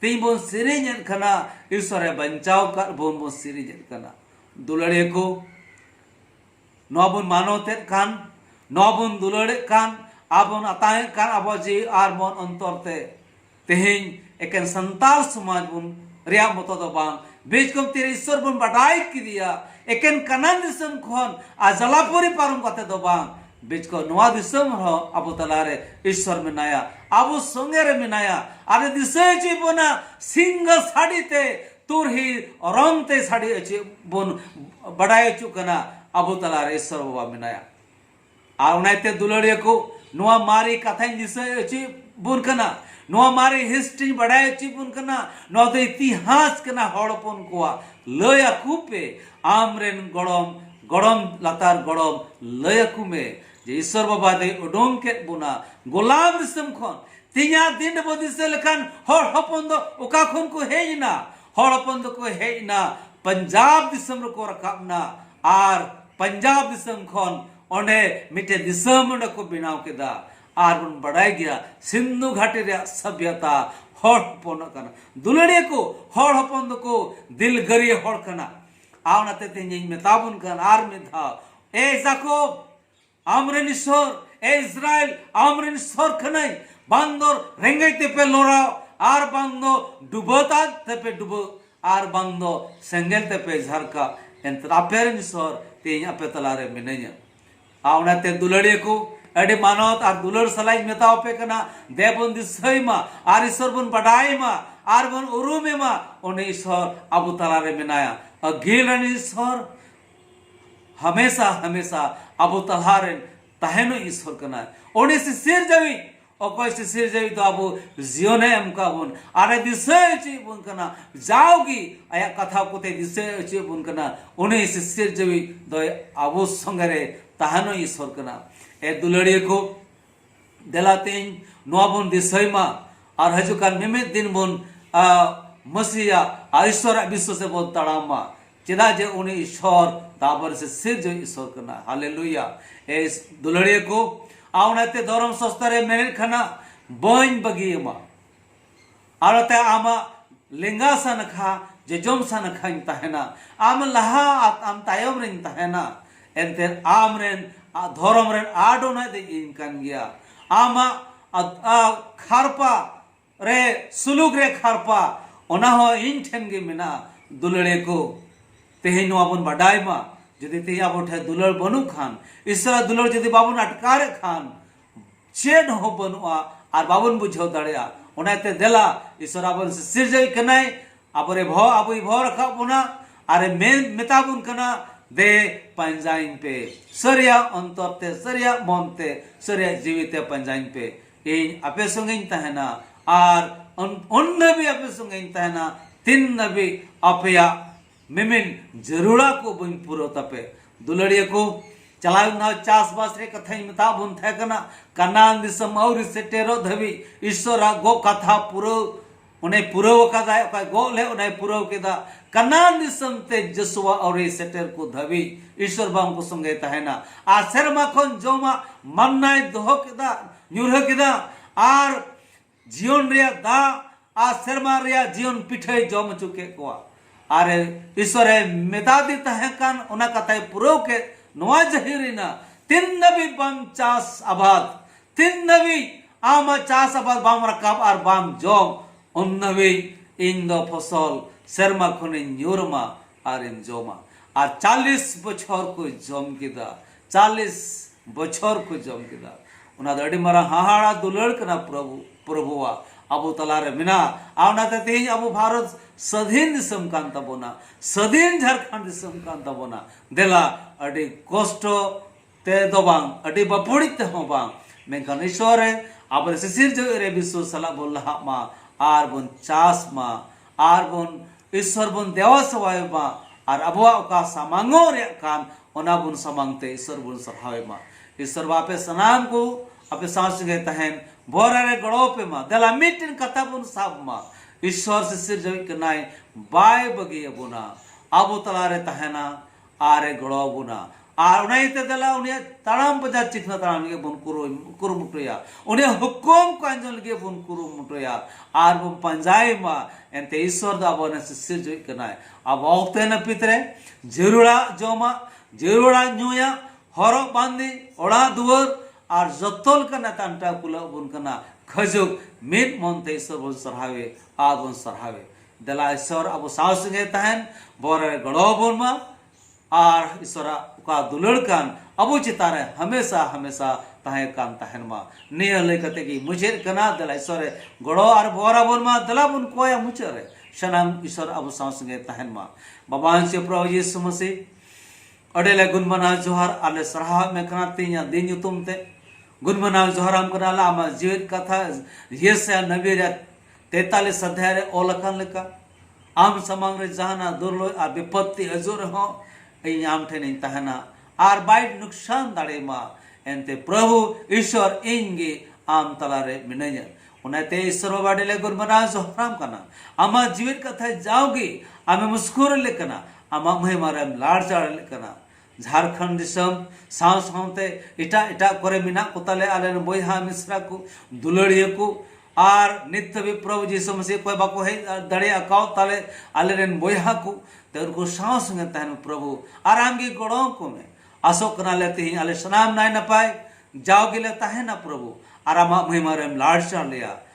ᱛᱮᱦᱮᱧ ᱵᱚᱱ ᱥᱮᱨᱮᱧᱮᱫ ᱠᱟᱱᱟ ᱤᱥᱚᱨᱮ ᱵᱟᱧᱪᱟᱣ ᱠᱟᱫ ᱵᱚᱱ ᱵᱚᱱ ᱥᱮᱨᱮᱧᱮᱫ ᱠᱟᱱᱟ ᱫᱩᱞᱟᱹᱲᱤᱭᱟᱹ ᱠᱚ ᱱᱚᱣᱟ ᱵᱚᱱ ᱢᱟᱱᱚᱛᱮᱫ ᱠᱟᱱ ᱱᱚᱣᱟ ᱵᱚᱱ ᱫᱩᱞᱟᱹᱲᱮᱫ ᱠᱟᱱ ᱟᱵᱚᱱ ᱟᱛᱟᱝᱮᱫ ᱠᱟᱱ ᱟᱵᱚ ᱡᱮ ᱟᱨ ᱢᱚᱱ ᱚᱱᱛᱚᱨ ᱛᱮ ᱛᱮᱦᱮᱧ ᱮᱠᱮᱱ ᱥᱟᱱᱛᱟᱲ ᱥᱚᱢᱟᱡᱽ ᱵᱚᱱ ᱨᱮᱭᱟᱜ ᱢᱚᱛᱚ ᱫᱚ ᱵᱟᱝ ᱵᱮᱡᱽ ᱠᱚᱢ ᱛᱮᱨᱮ ᱤᱥᱚᱨ ᱵᱚᱱ ᱵᱟᱰᱟᱭ ᱠᱮᱫᱮᱭᱟ ᱮᱠᱮᱱ ᱠᱟᱱᱟᱱ ᱫᱤᱥᱚᱢ ᱠᱷᱚᱱ ᱟᱨ ᱡᱟᱞᱟᱯᱩᱨᱤ ᱯᱟᱨᱚᱢ ᱠᱟᱛᱮ ᱫᱚ ᱵᱟᱝ ᱵᱮᱪᱠᱚ ᱱᱚᱣᱟ ᱫᱤᱥᱚᱢ ᱨᱮᱦᱚᱸ ᱟᱵᱚ ᱛᱟᱞᱟᱨᱮ ᱤᱥᱥᱚᱨ ᱢᱮᱱᱟᱭᱟ ᱟᱵᱚ ᱥᱚᱸᱜᱮ ᱨᱮ ᱢᱮᱱᱟᱭᱟ ᱟᱨ ᱫᱤᱥᱟᱹ ᱦᱚᱪᱚᱭᱮᱫ ᱵᱚᱱᱟ ᱥᱤᱝᱜᱟ ᱥᱟᱰᱮ ᱛᱮ ᱛᱩᱨᱦᱤ ᱚᱨᱚᱝ ᱛᱮ ᱥᱟᱰᱮ ᱦᱚᱪᱚᱭᱮᱫ ᱵᱚᱱ ᱵᱟᱰᱟᱭ ᱦᱚᱪᱚᱜ ᱠᱟᱱᱟ ᱟᱵᱚ ᱛᱟᱞᱟᱨᱮ ᱤᱥᱥᱚᱨ ᱵᱟᱵᱟ ᱢᱮᱱᱟᱭᱟ ᱟᱨ ᱚᱱᱟᱛᱮ ᱫᱩᱞᱟᱹᱲᱤᱭᱟᱹ ᱠᱚ ᱱᱚᱣᱟ ᱢᱟᱨᱮ ᱠᱟᱛᱷᱟᱧ ᱫᱤᱥᱟᱹ ᱦᱚᱪᱚᱭᱮᱫ ᱵᱚᱱ ᱠᱟᱱᱟ ᱱᱚᱣᱟ ᱢᱟᱨᱮ ᱦᱤᱥᱴᱨᱤᱧ ᱵᱟᱰᱟᱭ ᱦᱚᱪᱚᱭᱮᱫ ᱵᱚᱱ ᱠᱟᱱᱟ ᱱᱚᱣᱟ ᱫᱚ ᱤᱛᱤᱦᱟᱥ ᱠᱟᱱᱟ ᱦᱚᱲ ᱦᱚᱯᱚᱱ ᱠᱚᱣᱟᱜ ᱞᱟᱹᱭ ᱟᱠᱚ ᱯᱮ ᱟᱢᱨᱮᱱ ᱜᱚᱲᱚᱢ ᱜᱚᱲᱚᱢ ᱞᱟᱛᱟᱨ ᱜᱚᱲᱚᱢ ᱞᱟᱹᱭ ᱟᱠᱚ ᱢᱮ ᱡᱮ ᱤᱥᱚᱨ ᱵᱟᱵᱟ ᱫᱚᱭ ᱩᱰᱩᱝ ᱠᱮᱫ ᱵᱚᱱᱟ ᱜᱳᱞᱟᱢ ᱫᱤᱥᱚᱢ ᱠᱷᱚᱱ ᱛᱤᱧᱟ ᱫᱤᱱ ᱨᱮᱵᱚ ᱫᱤᱥᱟᱹ ᱞᱮᱠᱷᱟᱱ ᱦᱚᱲ ᱦᱚᱯᱚᱱ ᱫᱚ ᱚᱠᱟ ᱠᱷᱚᱱ ᱠᱚ ᱦᱮᱡ ᱮᱱᱟ ᱦᱚᱲ ᱦᱚᱯᱚᱱ ᱫᱚᱠᱚ ᱦᱮᱡ ᱮᱱᱟ ᱯᱟᱧᱡᱟᱵᱽ ᱫᱤᱥᱚᱢ ᱨᱮᱠᱚ ᱨᱟᱠᱟᱵ ᱮᱱᱟ ᱟᱨ ᱯᱟᱧᱡᱟᱵᱽ ᱫᱤᱥᱚᱢ ᱠᱷᱚᱱ ᱚᱸᱰᱮ ᱢᱤᱫᱴᱮᱱ ᱫᱤᱥᱚᱢ ᱚᱸᱰᱮ ᱠᱚ ᱵᱮᱱᱟᱣ ᱠᱮᱫᱟ ᱟᱨ ᱵᱚᱱ ᱵᱟᱰᱟᱭ ᱜᱮᱭᱟ ᱥᱤᱱᱫᱷᱩ ᱜᱷᱟᱴᱤ ᱨᱮᱭᱟᱜ ᱥᱟᱵᱷᱭᱚᱛᱟ ᱦᱚᱲ ᱦᱚᱯᱚᱱᱟᱜ ᱠᱟᱱᱟ ᱫᱩᱞᱟᱹᱲᱤᱭᱟᱹ ᱠᱚ ᱦᱚᱲ ᱦᱚᱯᱚᱱ ᱫᱚᱠᱚ ᱫᱤᱞᱜᱟᱹᱨᱤᱭᱟᱹ ᱦᱚᱲ ᱠᱟᱱᱟ ᱟᱨ ᱚᱱᱟᱛᱮ ᱛᱮᱦᱮᱧᱤᱧ ᱢᱮᱛᱟᱵᱚᱱ ᱠᱟᱱ ᱟᱨ ᱢᱤᱫ ᱫᱷᱟᱣ ᱮ ᱡᱟᱠᱚᱵ ᱟᱢᱨᱮᱱ ᱤᱥᱚᱨ ᱮ ᱤᱥᱨᱟᱭᱮᱞ ᱟᱢᱨᱮᱱ ᱤᱥᱚᱨ ᱠᱟᱹᱱᱟᱹᱧ ᱵᱟᱝ ᱫᱚ ᱨᱮᱸᱜᱮᱡ ᱛᱮᱯᱮ ᱞᱚᱲᱟᱣ ᱟᱨ ᱵᱟᱝ ᱫᱚ ᱰᱩᱵᱟᱹᱛᱟ ᱛᱮᱯᱮ ᱰᱩᱵᱟᱹ ᱟᱨ ᱵᱟᱝ ᱫᱚ ᱥᱮᱸᱜᱮᱞ ᱛᱮᱯᱮ ᱡᱷᱟᱨᱠᱟ ᱮᱱᱛᱮ ᱟᱯᱮᱨᱮᱱ ᱤᱥᱚᱨ ᱛᱮᱦᱮᱧ ᱟᱯᱮ ᱛᱟᱞᱟᱨᱮ ᱢᱤᱱᱟᱹᱧᱟ ᱟᱨ ᱚᱱᱟᱛᱮ ᱫᱩᱞᱟᱹᱲᱤᱭᱟᱹ ᱠᱚ ᱟᱹᱰᱤ ᱢᱟᱱᱚᱛ ᱟᱨ ᱫᱩᱞᱟᱹᱲ ᱥᱟᱞᱟᱜ ᱤᱧ ᱢᱮᱛᱟᱣ ᱟᱯᱮ ᱠᱟᱱᱟ ᱫᱮᱵᱚᱱ ᱫᱤᱥᱟᱹᱭ ᱢᱟ ᱟᱨ ᱤᱥᱚᱨ ᱵᱚᱱ ᱵᱟᱰᱟᱭ ᱢᱟ ᱟᱨ ᱵᱚᱱ ᱩᱨᱩᱢᱮ ᱢᱟ ᱩᱱᱤ ᱤᱥᱚᱨ ᱟᱵᱚ ᱛᱟᱞᱟᱨᱮ ᱢᱮᱱᱟᱭᱟ ᱟᱹᱜᱤᱞ ᱨᱮᱱ ᱤᱥᱚᱨ ᱦᱟᱢᱮᱥᱟ ᱦᱟᱢᱮᱥᱟ ᱟᱵᱚ ᱛᱟᱞᱟᱨᱮ ᱛᱟᱦᱮᱱ ᱤᱥᱚᱨ ᱠᱟᱱᱟᱭ ᱩᱱᱤ ᱥᱤᱥᱤᱨ ᱡᱟᱹᱣᱤᱡ ᱚᱠᱚᱭ ᱥᱤᱥᱤᱨᱡᱟᱹᱣᱤᱡ ᱫᱚ ᱟᱵᱚ ᱡᱤᱭᱚᱱᱮ ᱮᱢ ᱠᱟᱜ ᱵᱚᱱ ᱟᱨᱮ ᱫᱤᱥᱟᱹ ᱦᱚᱪᱚᱭᱮᱫ ᱵᱚᱱ ᱠᱟᱱᱟ ᱡᱟᱣᱜᱮ ᱟᱭᱟᱜ ᱠᱟᱛᱷᱟ ᱠᱚᱛᱮ ᱫᱤᱥᱟᱹ ᱦᱚᱪᱚᱭᱮᱫ ᱵᱚᱱ ᱠᱟᱱᱟ ᱩᱱᱤ ᱥᱤᱥᱤᱨᱡᱟᱹᱣᱤᱡ ᱫᱚᱭ ᱟᱵᱚ ᱥᱚᱸᱜᱮ ᱨᱮ ᱛᱟᱦᱮᱱᱚᱜ ᱤᱥᱚᱨ ᱠᱟᱱᱟ ᱮ ᱫᱩᱞᱟᱹᱲᱤᱭᱟᱹ ᱠᱚ ᱫᱮᱞᱟ ᱛᱮᱧ ᱱᱚᱣᱟ ᱵᱚᱱ ᱫᱤᱥᱟᱹᱭ ᱢᱟ ᱟᱨ ᱦᱤᱡᱩᱜ ᱠᱟᱱ ᱢᱤᱢᱤᱫ ᱫᱤᱱ ᱵᱚᱱ ᱢᱟᱹᱥᱤᱭᱟ ᱟᱨ ᱤᱥᱚᱨᱟᱜ ᱵᱤᱥᱥᱚᱥᱮ ᱵᱚᱱ ᱛᱟᱲᱟᱢ ᱢᱟ ᱪᱮᱫᱟᱜ ᱡᱮ ᱩᱱᱤ ᱤᱥᱚᱨ ᱫᱟᱵᱚᱨ ᱥᱮ ᱥᱤᱨ ᱡᱚ ᱤᱥᱚᱨ ᱠᱟᱱᱟ ᱦᱟᱞᱮᱞᱩᱭᱟ ᱮ ᱫᱩᱞᱟᱹᱲᱤᱭᱟᱹ ᱠᱚ ᱟᱨ ᱚᱱᱟᱛᱮ ᱫᱷᱚᱨᱚᱢ ᱥᱚᱥᱛᱟ ᱨᱮ ᱢᱮᱱᱮᱫ ᱠᱟᱱᱟ ᱵᱟᱹᱧ ᱵᱟᱹᱜᱤᱭᱟᱢᱟ ᱟᱨ ᱚᱱᱟᱛᱮ ᱟᱢᱟᱜ ᱞᱮᱸᱜᱟ ᱥᱟᱱᱟᱠᱷᱟ ᱡᱚᱡᱚᱢ ᱥᱟᱱᱟᱠᱷᱟᱧ ᱛᱟᱦᱮᱱᱟ ᱟᱢ ᱞᱟᱦᱟ ᱟᱢ ᱛᱟᱭᱚᱢ ᱨᱮᱧ ᱛᱟᱦᱮᱱᱟ ᱮᱱᱛᱮ ᱟᱢ ᱨᱮᱱ ᱫᱷᱚᱨᱚᱢ ᱨᱮᱱ ᱟᱰᱚᱱᱟᱭ ᱫᱚ ᱤᱧ ᱠᱟᱱ ᱜᱮᱭᱟ ᱟᱢᱟᱜ ᱠᱷᱟᱨᱯᱟ ᱨᱮ ᱥᱩᱞᱩᱠ ᱨᱮ ᱠᱷᱟᱨᱯᱟ ᱚᱱᱟ ᱦᱚᱸ ᱤᱧ ᱴᱷᱮᱱ ᱜᱮ ᱢᱮᱱᱟᱜᱼᱟ ᱫᱩᱞᱟᱹᱲᱮ ᱠᱚ ᱛᱮᱦᱮᱧ ᱱᱚᱣᱟ ᱵᱚᱱ ᱵᱟᱰᱟᱭ ᱢᱟ ᱡᱩᱫᱤ ᱛᱮᱦᱮᱧ ᱟᱵᱚ ᱴᱷᱮᱱ ᱫᱩᱞᱟᱹᱲ ᱵᱟᱹᱱᱩᱜ ᱠᱷᱟᱱ ᱤᱥᱚᱨᱟᱜ ᱫᱩᱞᱟᱹᱲ ᱡᱩᱫᱤ ᱵᱟᱵᱚᱱ ᱟᱴᱠᱟᱨᱮᱫ ᱠᱷᱟᱱ ᱪᱮᱫ ᱦᱚᱸ ᱵᱟᱹᱱᱩᱜᱼᱟ ᱟᱨ ᱵᱟᱵᱚᱱ ᱵᱩᱡᱷᱟᱹᱣ ᱫᱟᱲᱮᱭᱟᱜᱼᱟ ᱚᱱᱟᱛᱮ ᱫᱮᱞᱟ ᱤᱥᱚᱨ ᱟᱵᱚ ᱥᱤᱨᱡᱟᱹᱭ ᱠᱟᱱᱟᱭ ᱟᱵᱚᱨᱮ ᱵᱷᱚ ᱟᱵᱚᱭ ᱵᱷᱚ ᱨᱟᱠᱟᱵ ᱵᱚᱱᱟ ᱟᱨᱮ ᱢᱮᱱ ᱢᱮᱛᱟ ᱵᱚᱱ ᱠᱟᱱᱟ ᱫᱮ ᱯᱟᱸᱡᱟᱧ ᱯᱮ ᱥᱟᱹᱨᱤᱭᱟᱜ ᱚᱱᱛᱚᱨ ᱛᱮ ᱥᱟᱹᱨᱤᱭᱟᱜ ᱢᱚᱱ ᱛᱮ ᱥᱟᱹᱨᱤᱭᱟᱜ ᱡᱤᱣᱤ ᱛᱮ ᱯᱟᱸᱡᱟᱧ ᱯᱮ ᱤᱧ ᱟᱯᱮ ᱥᱚᱸᱜᱮᱧ ᱛᱟᱦᱮᱱᱟ ᱟᱨ ᱩᱱ ᱫᱷᱟᱹᱵᱤᱡ ᱟᱯᱮ ᱥᱚᱸᱜᱮᱧ ᱛᱟᱦᱮᱱᱟ ᱛᱤᱱ ᱫᱷᱟᱹᱵᱤᱡ ᱟᱯᱮᱭᱟᱜ ᱢᱤᱢᱤᱱ ᱡᱟᱹᱨᱩᱲᱟ ᱠᱚ ᱵᱟᱹᱧ ᱯᱩᱨᱟᱹᱣ ᱛᱟᱯᱮ ᱫᱩᱞᱟᱹᱲᱤᱭᱟᱹ ᱠᱚ ᱪᱟᱞᱟᱣ ᱫᱷᱟᱣ ᱪᱟᱥᱵᱟᱥ ᱨᱮ ᱠᱟᱛᱷᱟᱧ ᱢᱮᱛᱟᱜ ᱵᱚᱱ ᱛᱟᱦᱮᱸ ᱠᱟᱱᱟ ᱠᱟᱱᱟᱱ ᱫᱤᱥᱚᱢ ᱟᱹᱣᱨᱤ ᱥᱮᱴᱮᱨᱚᱜ ᱫᱷᱟᱹᱵᱤᱡ ᱤᱥᱥᱚᱨᱟᱜ ᱜᱚ ᱠᱟᱛᱷᱟ ᱯᱩᱨᱟᱹᱣ ᱚᱱᱮ ᱯᱩᱨᱟᱹᱣ ᱟᱠᱟᱫᱟᱭ ᱚᱠᱟᱭ ᱜᱚᱜ ᱞᱮ ᱚᱱᱟᱭ ᱯᱩᱨᱟᱹᱣ ᱠᱮᱫᱟ ᱠᱟᱱᱟᱱ ᱫᱤᱥᱚᱢ ᱛᱮ ᱡᱚᱥᱩᱣᱟ ᱟᱹᱣᱨᱤ ᱥᱮᱴᱮᱨ ᱠᱚ ᱫᱷᱟᱹᱵᱤᱡ ᱤᱥᱚᱨ ᱵᱟ ᱩᱱᱠᱩ ᱥᱚᱸᱜᱮ ᱛᱟᱦᱮᱱᱟ ᱟᱨ ᱥᱮᱨᱢᱟ ᱠᱷᱚᱱ ᱡᱚᱢᱟᱜ ᱢᱟᱱᱱᱟᱭ ᱫᱚᱦᱚ ᱠᱮᱫᱟ ᱧᱩᱨᱦᱟᱹ ᱠᱮᱫᱟ ᱟᱨ ᱡᱤᱭᱚᱱ ᱨᱮᱭᱟᱜ ᱫᱟᱜ ᱟᱨ ᱥᱮᱨᱢᱟ ᱨᱮᱭᱟᱜ ᱡᱤᱭᱚᱱ ᱯᱤᱴᱷᱟᱹᱭ ᱡᱚᱢ ᱦᱚᱪᱚ ᱠᱮᱫ ᱠᱚᱣᱟ ᱟᱨ ᱤᱥᱚᱨ ᱮ ᱢᱮᱛᱟᱫᱮ ᱛᱟᱦᱮᱸ ᱠᱟᱱ ᱚᱱᱟ ᱠᱟᱛᱷᱟᱭ ᱯᱩᱨᱟᱹᱣ ᱠᱮᱫ ᱱᱚᱣᱟ ᱡᱟᱹᱦᱤᱨ ᱮᱱᱟ ᱛᱤᱱ ᱫᱷᱟᱹᱵᱤᱡ ᱵᱟᱢ ᱪᱟᱥ ᱟᱵᱟᱫ ᱛᱤᱱ ᱫᱷᱟᱹᱵᱤᱡ ᱟᱢ ᱪᱟᱥ ᱟᱵᱟᱫ ᱵᱟᱢ ᱨᱟᱠᱟᱵ ᱟᱨ ᱵᱟᱢ ᱡᱚᱢ ᱩᱱ ᱫᱷᱟᱹᱵᱤᱡ ᱤᱧ ᱫᱚ ᱯᱷᱚᱥᱚᱞ ᱥᱮᱨᱢᱟ ᱠᱷᱚᱱᱤᱧ ᱧᱩᱨ ᱟᱢᱟ ᱟᱨᱤᱧ ᱡᱚᱢᱟ ᱟᱨ ᱪᱟᱞᱤᱥ ᱵᱚᱪᱷᱚᱨ ᱠᱚ ᱡᱚᱢ ᱠᱮᱫᱟ ᱪᱟᱞᱤᱥ ᱵᱚᱪᱷᱚᱨ ᱠᱚ ᱡᱚᱢ ᱠᱮᱫᱟ ᱚᱱᱟ ᱫᱚ ᱟᱹᱰᱤ ᱢᱟᱨᱟᱝ ᱦᱟᱦᱟᱲᱟ ᱫᱩᱞᱟᱹᱲ ᱠᱟᱱᱟ ᱯᱨᱚᱵᱷᱩ ᱯᱨᱚᱵᱷᱩᱣᱟᱜ ᱟᱵᱚ ᱛᱟᱞᱟᱨᱮ ᱢᱮᱱᱟᱜᱼᱟ ᱟᱨ ᱚᱱᱟᱛᱮ ᱛᱮᱦᱮᱧ ᱟᱵᱚ ᱵᱷᱟᱨᱚᱛ ᱥᱟᱹᱫᱷᱤᱱ ᱫᱤᱥᱚᱢ ᱠᱟᱱ ᱛᱟᱵᱚᱱᱟ ᱥᱟᱹᱫᱷᱤᱱ ᱡᱷᱟᱲᱠᱷᱚᱸᱰ ᱫᱤᱥᱚᱢ ᱠᱟᱱ ᱛᱟᱵᱚᱱᱟ ᱫᱮᱞᱟ ᱟᱹᱰᱤ ᱠᱚᱥᱴᱚ ᱛᱮ ᱫᱚ ᱵᱟᱝ ᱟᱹᱰᱤ ᱵᱟᱯᱚᱲᱤ ᱛᱮᱦᱚᱸ ᱵᱟᱝ ᱢᱮᱱᱠᱷᱟᱱ ᱤᱥᱚᱨᱮ ᱟᱵᱚ ᱥᱤᱥᱤᱨ ᱡᱚᱜ ᱨᱮ ᱵᱤᱥᱥᱚ ᱥᱟᱞᱟᱜ ᱵᱚᱱ ᱞᱟᱦᱟᱜ ᱢᱟ ᱟᱨ ᱵᱚᱱ ᱪᱟᱥ ᱢᱟ ᱟᱨ ᱵᱚᱱ ᱤᱥᱚᱨ ᱵᱚᱱ ᱫᱮᱣᱟ ᱥᱮᱣᱟᱭᱮ ᱢᱟ ᱟᱨ ᱟᱵᱚᱣᱟᱜ ᱚᱠᱟ ᱥᱟᱢᱟᱝᱚᱜ ᱨᱮᱭᱟᱜ ᱠᱟᱱ ᱚᱱᱟ ᱵᱚᱱ ᱥᱟᱢᱟᱝ ᱛᱮ ᱤᱥᱚᱨ ᱵᱚᱱ ᱥᱟᱨᱦᱟᱣᱮ ᱢᱟ ᱤᱥᱚᱨ ᱵᱟ ᱟᱯᱮ ᱥᱟᱱᱟᱢ ᱠᱚ ᱟᱯᱮ ᱥᱟᱶ ᱥᱚᱸᱜᱮ ᱛᱟᱦᱮᱱ ᱵᱚᱨᱟ ᱨᱮ ᱜᱚᱲᱚ ᱯᱮ ᱢᱟ ᱫᱮᱞᱟ ᱢᱤᱫᱴᱮᱱ ᱠᱟᱛᱷᱟ ᱵᱚᱱ ᱥᱟᱵ ᱢᱟ ᱤᱥᱚᱨ ᱥᱤᱥᱤᱨᱡᱟᱹᱣᱤᱡ ᱠᱟᱱᱟᱭ ᱵᱟᱭ ᱵᱟᱹᱜᱤ ᱟᱵᱚᱱᱟ ᱟᱵᱚ ᱛᱟᱞᱟᱨᱮ ᱛᱟᱦᱮᱱᱟ ᱟᱨ ᱮ ᱜᱚᱲᱚ ᱟᱵᱚᱱᱟ ᱟᱨ ᱚᱱᱟ ᱤᱭᱟᱹᱛᱮ ᱫᱮᱞᱟ ᱩᱱᱤᱭᱟᱜ ᱛᱟᱲᱟᱢ ᱯᱟᱸᱡᱟ ᱪᱤᱠᱷᱱᱟᱹ ᱛᱟᱲᱟᱢ ᱞᱟᱹᱜᱤᱫ ᱵᱚᱱ ᱠᱩᱨᱩᱢᱩᱴᱩᱭᱟ ᱩᱱᱤᱭᱟᱜ ᱦᱩᱠᱩᱢ ᱠᱚ ᱟᱸᱡᱚᱢ ᱞᱟᱹᱜᱤᱫ ᱵᱚᱱ ᱠᱩᱨᱩᱢᱩᱴᱩᱭᱟ ᱟᱨ ᱵᱚᱱ ᱯᱟᱸᱡᱟᱭ ᱢᱟ ᱮᱱᱛᱮ ᱤᱥᱚᱨ ᱫᱚ ᱟᱵᱚ ᱨᱮᱱ ᱥᱤᱥᱤᱨᱡᱚᱭᱤᱡ ᱠᱟᱱᱟᱭ ᱟᱵᱚ ᱚᱠᱛᱮ ᱱᱟᱹᱯᱤᱛ ᱨᱮ ᱡᱟᱹᱨᱩᱲᱟ ᱡᱚᱢᱟ ᱡᱟᱹᱨᱩᱲᱟ ᱧᱩᱭᱟ ᱦᱚᱨᱚᱜ ᱵᱟᱸᱫᱮ ᱚᱲᱟᱜ ᱫᱩᱣᱟᱹᱨ ᱟᱨ ᱡᱚᱛᱚ ᱞᱮᱠᱟᱱᱟᱜ ᱛᱟᱱᱴᱟ ᱠᱩᱞᱟᱹᱣ ᱵᱚᱱ ᱠᱟᱱᱟ ᱠᱷᱟᱡᱩᱠ ᱢᱤᱫ ᱢᱚᱱᱛᱮ ᱤᱥᱚᱨ ᱵᱚᱱ ᱥᱟᱨᱦᱟᱣᱮ ᱟᱨ ᱵᱚᱱ ᱥᱟᱨᱦᱟᱣᱮ ᱫᱮᱞᱟ ᱤᱥᱚᱨ ᱟᱵᱚ ᱥᱟᱶ ᱥᱚᱸᱜᱮ ᱛᱟᱦᱮᱱ ᱵᱚᱨᱮ ᱜᱚᱲᱚ ᱟᱵᱚᱱ ᱢᱟ ᱟᱨ ᱤᱥᱚᱨᱟ ᱚᱠᱟ ᱫᱩᱞᱟᱹᱲ ᱠᱟᱱ ᱟᱵᱚ ᱪᱮᱛᱟᱱ ᱨᱮ ᱦᱟᱢᱮᱥᱟ ᱦᱟᱢᱮᱥᱟ ᱛᱟᱦᱮᱸ ᱠᱟᱱ ᱛᱟᱦᱮᱱ ᱢᱟ ᱱᱤᱭᱟᱹ ᱞᱟᱹᱭ ᱠᱟᱛᱮ ᱜᱮ ᱢᱩᱪᱟᱹᱫ ᱠᱟᱱᱟ ᱫᱮᱞᱟ ᱤᱥᱚᱨᱮ ᱜᱚᱲᱚ ᱟᱨ ᱵᱚᱨ ᱟᱵᱚᱱ ᱢᱟ ᱫᱮᱞᱟ ᱵᱚᱱ ᱠᱚᱭᱟ ᱢᱩᱪᱟᱹᱫ ᱨᱮ ᱥᱟᱱᱟᱢ ᱤᱥᱚᱨ ᱟᱵᱚ ᱥᱟᱶ ᱥᱚᱸᱜᱮ ᱛᱟᱦᱮᱱ ᱢᱟ ᱵᱟᱵᱟ ᱥᱮ ᱯᱨᱚᱵᱷᱩ ᱭᱤᱥᱩ ᱢᱟᱥᱤ ᱟᱹᱰᱤ ᱞᱮ ᱜᱩᱱ ᱢᱟᱱᱟᱣ ᱡᱚᱦᱟᱨ ᱟᱨ ᱞᱮ ᱥᱟᱨᱦᱟᱣ ᱢᱮ ᱠᱟᱱᱟ ᱛᱮᱦᱮᱧ ᱫᱤᱱ ᱧᱩᱛᱩᱢ ᱛᱮ ᱜᱩᱱ ᱢᱟᱱᱟᱣ ᱡᱚᱦᱟᱨᱟᱢ ᱠᱟᱱᱟ ᱞᱮ ᱟᱢᱟᱜ ᱡᱤᱣᱮᱫ ᱠᱟᱛᱷᱟ ᱤᱭᱟᱹ ᱥᱮ ᱱᱟᱵᱤ ᱨᱮ ᱛᱮᱛᱟᱞᱤᱥ ᱟᱫᱷᱭᱟᱭ ᱨᱮ ᱚᱞ ᱟᱠᱟᱱ ᱞᱮᱠᱟ ᱟᱢ ᱥᱟᱢᱟᱝ ᱨᱮ ᱡᱟᱦᱟᱱᱟᱜ ᱫᱩᱨᱞᱚᱭ ᱟᱨ ᱵᱤᱯᱚᱛᱛᱤ ᱦᱤᱡᱩᱜ ᱨᱮᱦᱚᱸ ᱤᱧ ᱟᱢ ᱴᱷᱮᱱᱤᱧ ᱛᱟᱦᱮᱱᱟ ᱟᱨ ᱵᱟᱭ ᱱᱩᱠᱥᱟᱱ ᱫᱟᱲᱮᱭᱟᱢᱟ ᱮᱱᱛᱮ ᱯᱨᱚᱵᱷᱩ ᱤᱥᱚᱨ ᱤᱧ ᱜᱮ ᱟᱢ ᱛᱟᱞᱟᱨᱮ ᱢᱤᱱᱟᱹᱧᱟ ᱚᱱᱟᱛᱮ ᱤᱥᱚᱨ ᱵᱟᱵᱟ ᱟᱹᱰᱤ ᱞᱮ ᱜᱩᱨᱢᱟᱱᱟᱣ ᱡᱚᱦᱟᱨᱟᱢ ᱠᱟᱱᱟ ᱟᱢᱟᱜ ᱡᱤᱣᱤᱫ ᱠᱟᱛᱷᱟ ᱡᱟᱣᱜᱮ ᱟᱢᱮᱢ ᱩᱥᱠᱩᱨ ᱞᱮ ᱠᱟᱱᱟ ᱟᱢᱟᱜ ᱢᱚᱦᱤᱢᱟ ᱨᱮᱢ ᱞᱟᱲᱪᱟᱲ ᱞᱮ ᱠᱟᱱᱟ ᱡᱷᱟᱲᱠᱷᱚᱸᱰ ᱫᱤᱥᱚᱢ ᱥᱟᱶ ᱥᱟᱶᱛᱮ ᱮᱴᱟᱜ ᱮᱴᱟᱜ ᱠᱚᱨᱮ ᱢᱮᱱᱟᱜ ᱠᱚ ᱛᱟᱞᱮ ᱟᱞᱮ ᱨᱮᱱ ᱵᱚᱭᱦᱟ ᱢᱤᱥᱨᱟ ᱠᱚ ᱫᱩᱞᱟᱹᱲᱤᱭᱟᱹ ᱠᱚ ᱟᱨ ᱱᱤᱛ ᱫᱷᱟᱹᱵᱤᱡ ᱯᱨᱚᱵᱷᱩ ᱡᱤᱥᱩ ᱢᱟᱹᱥᱤ ᱚᱠᱚᱭ ᱵᱟᱠᱚ ᱦᱮᱡ ᱫᱟᱲᱮ ᱟᱠᱟᱣᱟᱫ ᱛᱟᱞᱮ ᱟᱞᱮ ᱨᱮᱱ ᱵᱚᱭᱦᱟ ᱠᱚ ᱛᱮ ᱩᱱᱠᱩ ᱥᱟᱶ ᱥᱚᱸᱜᱮ ᱛᱟᱦᱮᱱ ᱢᱮ ᱯᱨᱚᱵᱷᱩ ᱟᱨ ᱟᱢ ᱜᱮ ᱜᱚᱲᱚ ᱟᱠᱚ ᱢᱮ ᱟᱥᱚᱜ ᱠᱟᱱᱟᱞᱮ ᱛᱮᱦᱮᱧ ᱟᱞᱮ ᱥᱟᱱᱟᱢ ᱱᱟᱭ ᱱᱟᱯᱟᱭ ᱡᱟᱣ ᱜᱮᱞᱮ ᱛᱟᱦᱮᱱᱟ ᱯᱨᱚᱵᱷᱩ ᱟᱨ ᱟᱢᱟᱜ ᱢᱚᱦᱤᱢᱟ ᱨᱮᱢ ᱞᱟᱲᱪᱟᱲ ᱞᱮᱭᱟ